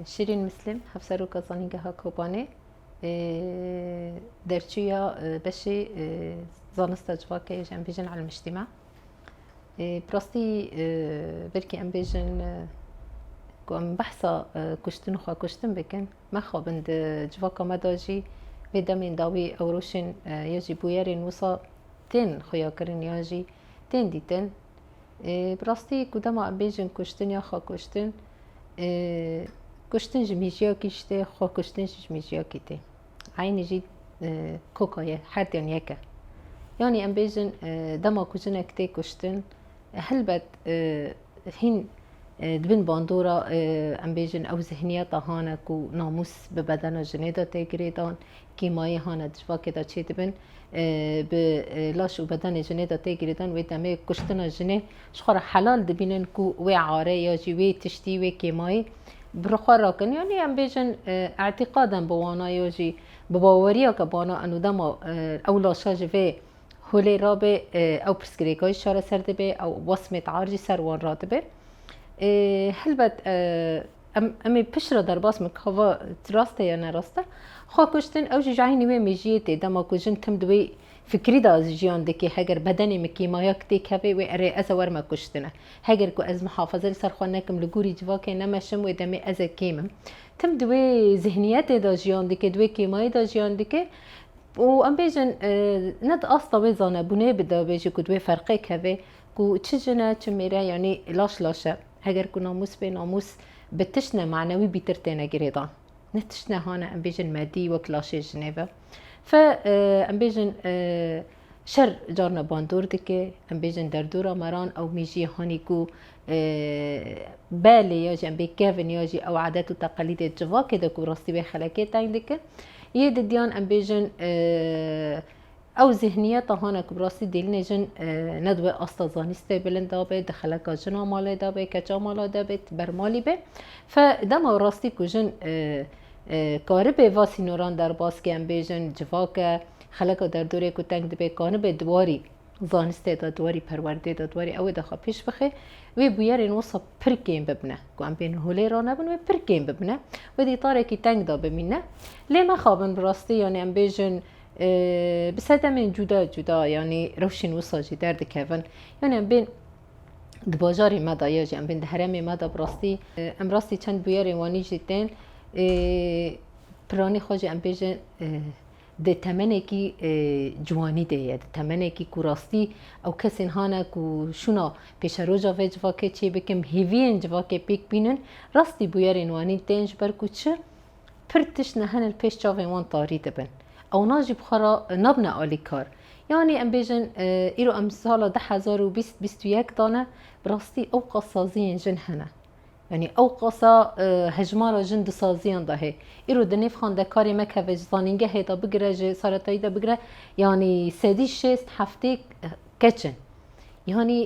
Şîrîn Mislim, Hevseroka Zanîngeha Kobanê derçûya beşê Zanista Civakê ji em bêjin Elmîştîma. Bi rastî belkî em bêjin ku em behsa kuştin û xwekuştin bikin, mexabin di civaka me de jî vê demên dawî ewroşên ya jî bûyerên wisa tên xuyakirin yan jî tên dîtin. Bi rastî ku dema em bêjin kuştin ya xwekuştin, kuştin ji mijiyakî ji tê, xwekuştin jî ji mijiyakî tê. Eynî jî koka ye, her diyan yek e. Yanî em bêjin dema ku jinek tê kuştin, helbet hîn di bin bandora em bêjin ew zihniyeta hane ku namûs bi bedena jinê de tê girêdan, kîmayê hane di civakê de çêdibin. bi laş û bedenê jinê de tê girîdan wê demê kuştina jinê ji xwe re helal dibînin ku wê are ya jî wê tiştî wê kêmayî bi ri xwe rakin yanî em bêjin etîqaden bi wana ya jî bi baweriya ke bana eno dema ew laşa ji vê holê rabê ew pirsgirêka jî çareser dibê ew wesmê tear jî ser wan radibe helbet Em em ê pişt re derbas bin ka va rast e ya ne rast e. Xwe kuştin ew jî ji eynî wê mejiyê tê. Dema ku jin tim di wê fikrî de jiyan dike heger bedenê min kîmayak têk hebe wê erê ez e wer me kuştine. Heger ku ez mihafaze li ser xwe nekim li gorî civakê nemeşim wê demê ez e kêm im. Tim di wê zihniyetê de jiyan dike di wê kêmayê de jiyan dike û em bêjin ne di asta wê zanebûnê bi de bêje ku di wê ferqêk hebe ku çi jin e çi mêr e yanî laş laş e. Heger ku namûs bê, namûs bi tiştine manewî bîtir têne girêdan. Ne tiştine hane em bêjin medî wek laşê jinê be. Fe em bêjin şer carna bandor dike, em bêjin derdora meran ew mîjî hanî ku belê ya jî em bê kevin ya jî ew adet û teqelîdê civakê de ku rastî wê xelekê teng dike. Yê didiyan em bêjin Ew zîhniyeta hane ku bi rastî dîlnê jin ne dibe asta zanîstê bilinda be, di xeleka jina malê de be, keça mala de be, ber malî be. Fe dema rastî ku jin karibê va sînoran derbas ke em bêjin civake, xeleka derdorê ku teng dibe kanibe di warî zanîstê de, di warî perwerdê de, di warî ewê de xwe pêş bixe, wê bûyerên wisa pir kêm bibine. Ku em bên holê re nebin wê pir kêm bibine. Wê dîtarekî teng de bimîne. Lê mexabin bi rastî yanî em bêjin Bi sedemên cuda cuda yanî rewşên wisa jî derdikevin. Yanî em bên di bajarê me de ya jî em bên di heremê me de bi rastî em rastî çend bûyerên wanî jî tên. Piranî xwe jî em bêjin di temenekî ciwanî de ye, di temenekî ku rastî ew kesên hane ku şûna pêşeroja vê civakê çê bikin, hêviyên civakê pêk bînin. Rastî bûyerên wanî tên ji ber ku çi? Pir tişt nihin li pêş çavên wan tarî dibin. Ewna jî bi xwe re nabine alîkar. Yanî em bêjin îro em sala du hezar û bîst bîst û yek de ne, bi rastî ewqas saziyên jin hene. Yanî ewqasa hejmara jin di saziyan de hê. Îro di nêv xandekarê me keve ji zanîngehê de bigire, ji saretayî de bigire yanî sedî şêst heftê keç in. Yanî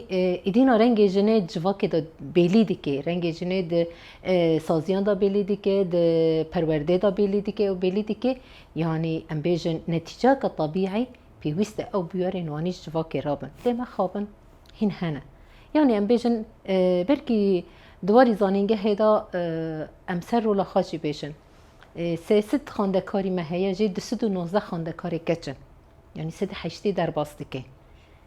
îdîna rengê jinê civakê de bêlî dike, rengê jinê di saziyan de bêlî dike, di perwerdeyê de bêlî dike û bêlî dike. Yanî em bêjin netîceke tebîî pêwîst e ew bûyerên wanî ji civakê re bin. Lê mexabin hîn hene. Yanî em bêjin belkî di warî zanîngehê de em ser rola xwe jî bêjin. Sê sid xandekarî me heye jê du sed û nozdeh xandekarê keç in. Yanî sed û heştê derbas dike.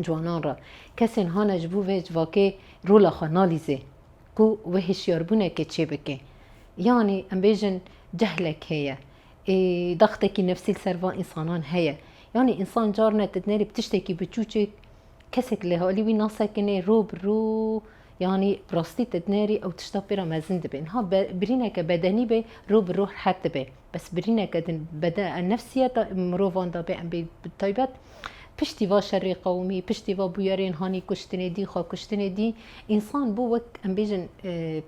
ciwanan re. Kesên hane ji bo vê civakê rola xwe nalîzê ku wê hişyarbûnekê çê bike. Yanî em bêjin cehlek heye. Ê daxtekî nefsî li ser van însanan heye. Yanî însan carine tu dinerî bi tiştekî biçûçik kesek li alî wî nasekinê rû bi rû yanî bi rastî tu dinerî ew tişta pê re mezin dibe. Niha birîneke bedenî bê rû bi rû rehet dibe. Bes birîneke din bede nefsîye da mirovan da bê em bê bi taybet piştî va şerê qewimî, piştî va bûyerên hanî kuştinê dî, xwe kuştinê dî, însan bû wek em bêjin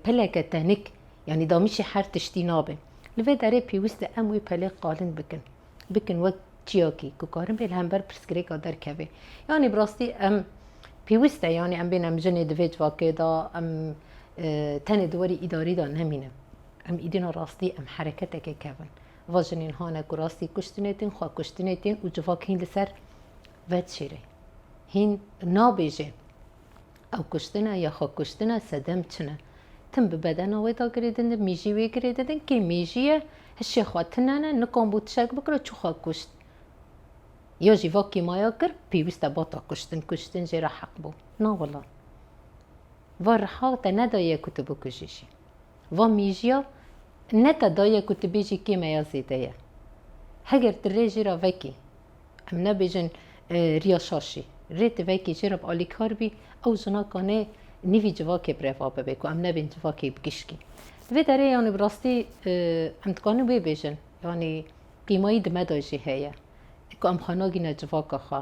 peleke tenik, yanî damîşî her tiştî nabe. Li vê derê pêwîst e em wê pelê qalin bikin. Bikin wek çiyakî ku karin bê li hember pirsgirêka derkeve. Yanî bi rastî em pêwîst e yanî em bên em jinê di vê civakê da, em tenê di werî îdarî da nemînin. Em êdîna rastî em hereketekê kevin. Va jinên hane ku rastî kuştinê tên, xwe kuştinê tên û civak hîn li ser vedişêre. Hîn nabêje ew kuştin e ya xwe kuştin e, sedem çi ne. Tim bi bedena wê da girê dindin, mêjî wê girê didin, kê mêjî ye, hişê xwe tinene, nikan bû tişek bikiro, çû xwe kuşt. Ya jî va kêmaya kir, pêwîst e bata kuştin, kuştin jê re heq bû. Na wila. Va riha te nedaye ku tu bikujî jî. Va mîjiya ne te daye ku tu bêjî kê me ya zêde ye. Heger tu rê jê re vekî, em nabêjin riya şaşî, rê tu vekî jê re bi alîkar bî, ew jina kanê nîvî civakê bi reva bibe ku em nebên civakê bi gişkî. Li vê derê yanî bi rastî em dikarin wê bêjin, yanî qîmayî di me de jî heye ku em xwe nagîne civaka xwe.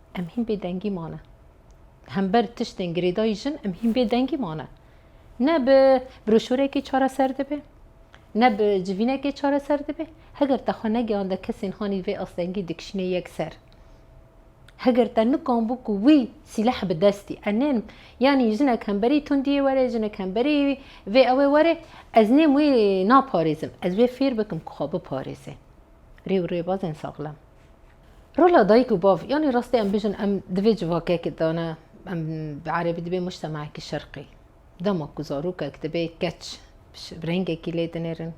Em hîn bêdengî mane. Hember tiştên girêdayî jin em hîn bêdengî mane. Ne bi broşûrekê çareser dibe, ne bi civînekê çareser dibe. Heger te xwe negeyanda kesên hanî vê astengî dikişîne yek ser. Heger te nikanbû ku wî sîleh bi destî enên yanî jinek hemberî tundiyê were, jinek hemberî vê ewê were, ez nêm wê naparêzim. Ez wê fêr bikim ku xwe biparêze. Rê û rêbazên saxlem. Rola dayik û bav, yanî rastî em bijin em divê civakek dane em bi erebî dibê mujtemekî şerqî. Dema ku zarokek dibê keç bi rengekî lê dinêrin,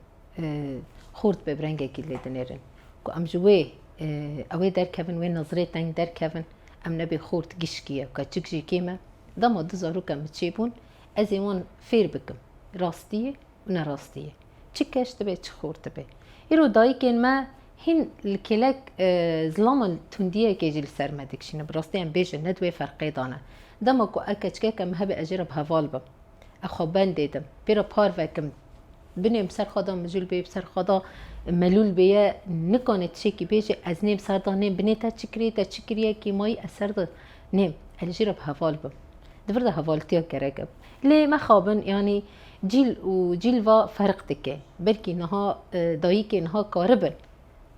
xort dibe bi rengekî lê dinêrin. Ku em ji wê ew ê derkevin wê nezirê teng derkevin em nebê xort gişkî ye keçik jî kêm e. Dema du zarokem bi çêbûn ez ê wan fêr bikim rastiyê Ne rastî ye. Çi keş dibe, çi xûr dibe. Îro dayikên me hîn li kêlek zilaman tundiyekê jî li ser me dikişîne. Bi rastî em bêjin ne di wê ferqê de ne. Dema ku ez keçikeke me hebe ez jê re bi heval bim. Ez xwe bendê dim. Pê re parve kim. Binê bi ser xwe de mijûl bê, bi ser xwe de melûl bê ye. Nikane tişekî bêje ez nêm ser de nêm. Binê te çi kirî, te çi kiriye kîmayî ez ser de nêm. Ez li jê re bi heval bim. Di vir de hevaltiya gerek e. Lê mexabin yanî cîl û cîl va ferq dike. Belkî niha dayîkê niha karibin,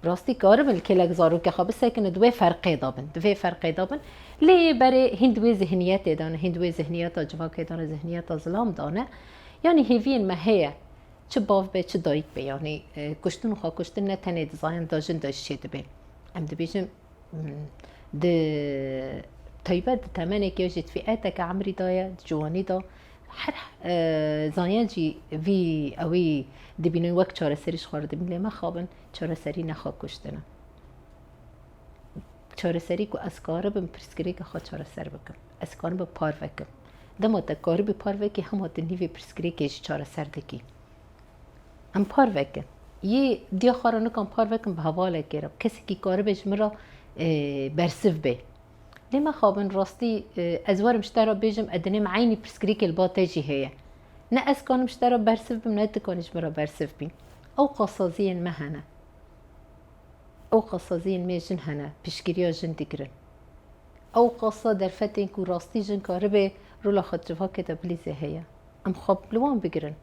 bi rastî karibin li kêlek zarokê xwe bisekin û di wê ferqê de bin, di vê ferqê de bin. Lê yê berê hîn di wê zihniyetê de ne, hîn di wê zihniyeta civakê de ne, zihniyeta zilam de ne. Yanî hêviyên me heye, çi bav be, çi dayîk be. Yanî kuştin û xwekuştin ne tenê di zayan da jin de jî çêdibê. Em dibêjin. Di taybet di temenekê jî di fîeteke emrî de ye di ciwanî de her zanyancî vî ewî dibînin wek çareserî ji xwe re dibîn lê mexabin çareserî ne xwe kuştin e. Çareserî ku ez karibim pirsgirêka xwe çareser bikim. Ez karim bi par vekim. Dema te karibî par vekî hema tu nîvê pirsgirêkê jî çareser dikî. Em par vekin. Yê diya xwe re nikan par vekin bi hevalekê re. Kesekî karibe ji min re bersiv bê. Lê mexabin rastî ez werim ji te re bêjim ez dinêm eynî pirsgirêkê li ba te jî heye. Ne ez kanim ji te re bersiv bim ne tu kanî ji min re bersiv bî. Ew qasaziyên me hene. Ew qasaziyên me jin hene piştgiriya jin digirin. Ew qasa derfetên ku rastî jin karibe rola xwe di civakê de bilîze heye. Em xwe li wan bigirin.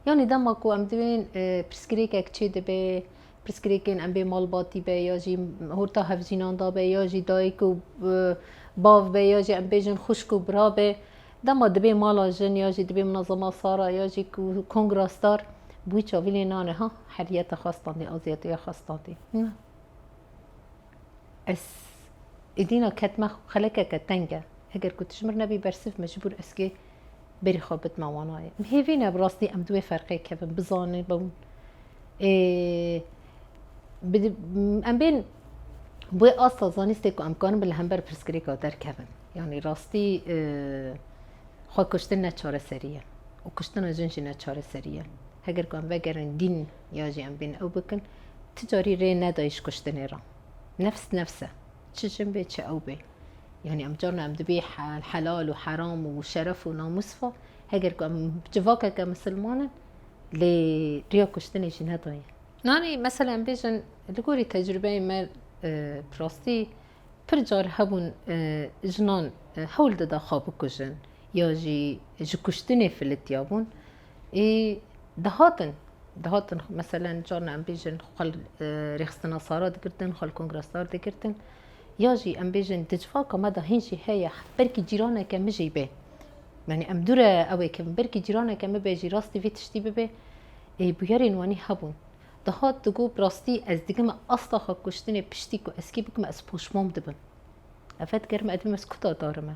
Yanî dema ku em divên pirsgirêkek çê dibe, pirsgirêkên em bê malbatî be ya jî horta hevjînan da be ya jî dayik û bav be ya jî em bêjin xwişk û bira be, dema dibê mala jin ya jî dibê minezema sara ya jî kongra star bi wî çavîlê nane ha heriyete xwe standî, aziyetiya xwe standî. Ez îdîna ketma xwe xelekeke teng e. Eger ku tu ji mir nebî bersiv, mecbûr ez kê berî xwe bidima wan nayê. Em hêvî ne bi rastî em di wê ferqê kevin, bizanin bûn ê bi em bên bi wê asta zanîstê ku em karin bin li hember pirsgirêka derkevin. Yanî rastî xwekuştin ne çareserî ye û kuştina jin jî ne çareserî ye. Heger ku em vegerin dîn, ya jî em bên ew bikin, ti carî rê neday ji kuştinê re. Nefs nefs e. Çi jin bê çi ew bê. Yanî em carna em dibê helal û heram û şeref û namûs ve heger ku em civakeke misilman in lê riya kuştinê jî nedaye. Nanî mesela em bêjin li gorî tecrûbeyê me bi rastî pir car hebûn jinan hewl dida xwe bikujin ya jî ji kuştinê filitiyabûn. Ê dihatin, dihatin meselen carna em bêjin xwe li rêxistina sara digirtin, xwe li kongra sar digirtin. Ya jî em bêjin di civaka me de hîn jî heye belkî cîraneke min jî bê. Yani em dûre ew ê kevin. Belkî cîraneke min bê jî rastî vê tiştî bibê. Ê bûyerên wanî hebûn. Dihat digot bi rastî ez digime asta xwe kuştinê piştî ku ez kî bigime ez poşmam dibim. Ev fetker me ez dibim ez kuta darime.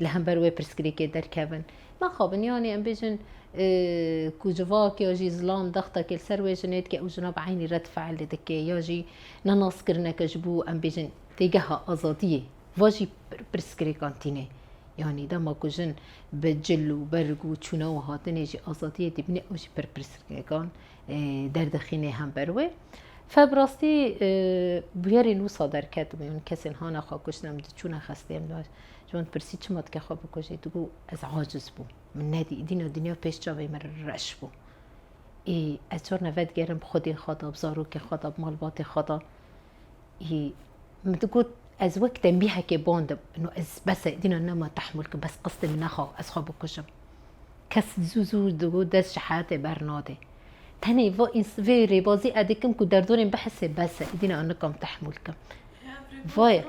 li hember wê pirsgirêkê derkevin. Naxabin yanî em bêjin ku civak ya jî zilam dextekê li ser wê jinê dike û jina bi eynî red fiil li dike ya jî nenazkirineke ji bo em bêjin têgeha azadiyê va jî pirsgirêkan tîne. Yanî dema ku jin bi cil û berg û çûna û hatinê jî azadiyê dibîne ew jî pir pirsgirêkan derdixîne hember wê. Fe bi rastî bûyerên wisa derketibûn, kesên hane xwe kuştin, em diçûne xestê em Ji wan dipirsî çima dike xwe bikujî? Digo ez aciz bûm, min nedî, dîna dinya pêş çavê min reş bû. Ê ez çar neve digerim bi xwedê xwe de, bi zarokê xwe de, bi malbatê xwe de. Ê min digot ez wek tembîhekê bandim. Ino ez bes e, dîna nema tehmûl kirim, bes qistê min nexa ez xwe bikujim. Kes zû zû digot dest ji heyetê bernade. Tenê va îns vê rêbazî edê kim ku derdorên bihise bes e, îdî ne an nikam tehmûl kim. Vaya.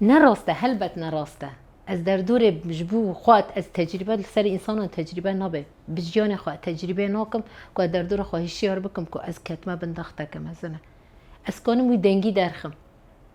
Ne rast e, helbet ne rast e. Ez derdorê ji bo xwe ez tecrîbe li ser însanan tecrîbe nabe. Bi jiyanê xwe tecrîbe nakim ku ez derdora xwe hişyar bikim ku ez ketime bin daxteke mezin e. Ez kanim wî dengî derxim.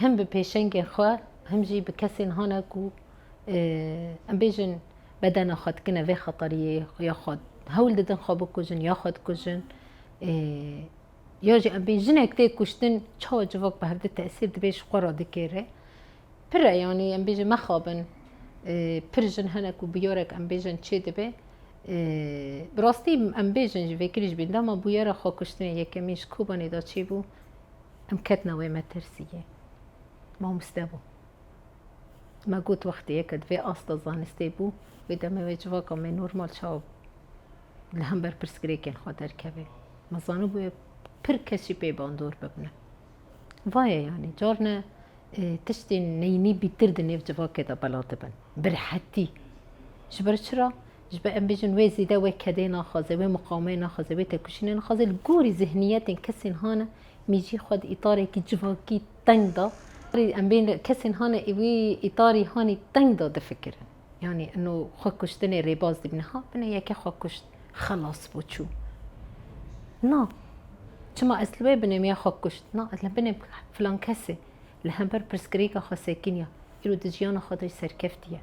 Him bi pêşengên xwe him jî bi kesên hane ku em bêjin bedena xwe dikine vê xeteriyê ya xwe hewl didin xwe bikujin ya xwe dikujin ya jî em bê jinek tê kuştin çawa civak bi hevdi tesîr dibê ji xwe re dikêre pir e yanî em bêjin mexabin pir jin hene ku bûyerek em bêjin çê dibe bi rastî em bêjin ji vê kirî ji bînda ma bûyera xwekuştinê yekemîn ji Kobanê de çêbû. Em ketina wê metirsiyê. Mamoste bû. Me got wextê ye ke di vê asta zanistê bû, wê demê wê civaka me normal çawa li hember pirsgirêkên xwe derkeve. Me zanibûye pir kes jî pê bandor bibne. Vaye yanî carine tiştên neyînî bîtir di nêv civakê de bela dibin. Bi rehetî. Ji ber çira Ji ber em bêjin wê zêde wê kedê naxwaze, wê miqamê naxwaze, wê têkoşînê naxwaze, li gorî zihniyetên kesên hane mîjî xwe di îtarekî civakî teng da. Em bên kesên hane wî îtarî hanî teng da difikirin. Yanî ino xwe kuştinê rêbaz dibîne. Ha bine yekê xwe kuşt, xelas bû çû. Na. Çima ez li wê binê me ya xwe kuşt? Na ez li binê filankesê. Li hember pirsgirêka xwe sekin ya, îro di jiyana xwe de jî serkeftî ye.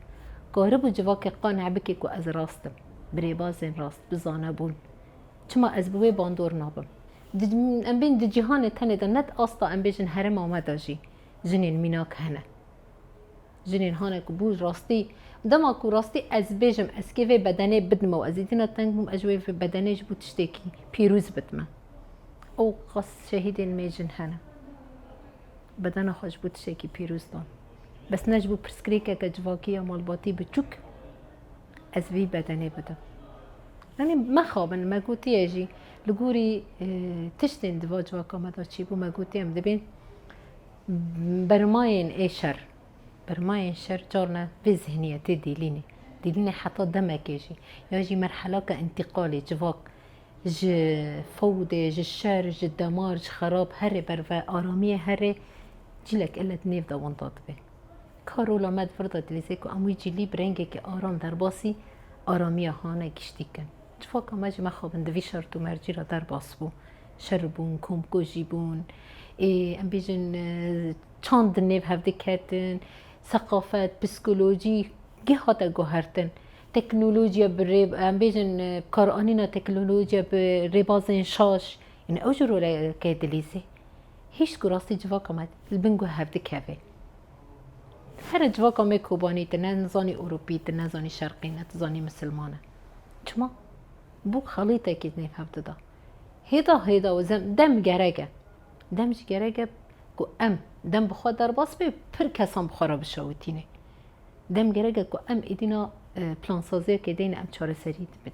Karibû civakê qane bike ku ez rast im, bi rêbazên rast, bi zanebûn. Çima ez bi wê bandor nabim? Di em bên di cîhanê tenê de net asta em bêjin herêma me de jî jinên mînak hene. Jinên hane ku bûn rastî. Dema ku rastî ez bêjim ez kê vê bedenê bidime û ez îdîna teng bûm ez ji wê bedenê ji bo tiştekî pîrûz bidime. Ew qas şehîdên me jin hene. Bedena xwe ji bo tiştekî pîrûz dan. Bes ne ji bo pirsgirêkeke civakî ya malbatî biçûk ez vî bedenê bidim. Yanî mexabin me gotiye jî li gorî tiştên di va civaka me de çîbû me gotiye em dibên Bermayên ê şer, bermayên şer carna vê zihniyetê dîlîne, dîlîne heta demekê jî ya jî merhelaka întiqalê civak ji fewdê, ji şer, ji demar, ji xerab herê ber ve aramiyê herê cîlek elle di nêv de winda dibe. Ka rola me di vir de dilîze ku em wî cîlî bi rengekî aram derbasî aramiya hane giştî kin. Civaka me jî mexabin di vî şert û mercî re derbas bû. şer bûn, komkujî bûn, ê em bêjin çand di nêv hev diketin, seqafet, psîkolojî geh hate guhertin. Teknolojiya bi rê em bêjin bikaranîna teknolojiya bi rêbazên şaş yînî ew jî roleke dilîzê. Hîç ku rastî civaka me li bin guh hev dikeve. Here civaka me Kobanî tu ne nizanî Ewropî, tu ne zanî Şerqî ne tu zanî Misilman e. Çima? Bû xelîtekî di nêv hev de da. Hêda hêda û zem dem gerek e. Dem jî gerek e ku em dem bi xwe derbas bê û pir kesan bi xwe re bişewitînê. Dem gerek e ku em êdîna plansaziyekê de yên em çareserî dibin.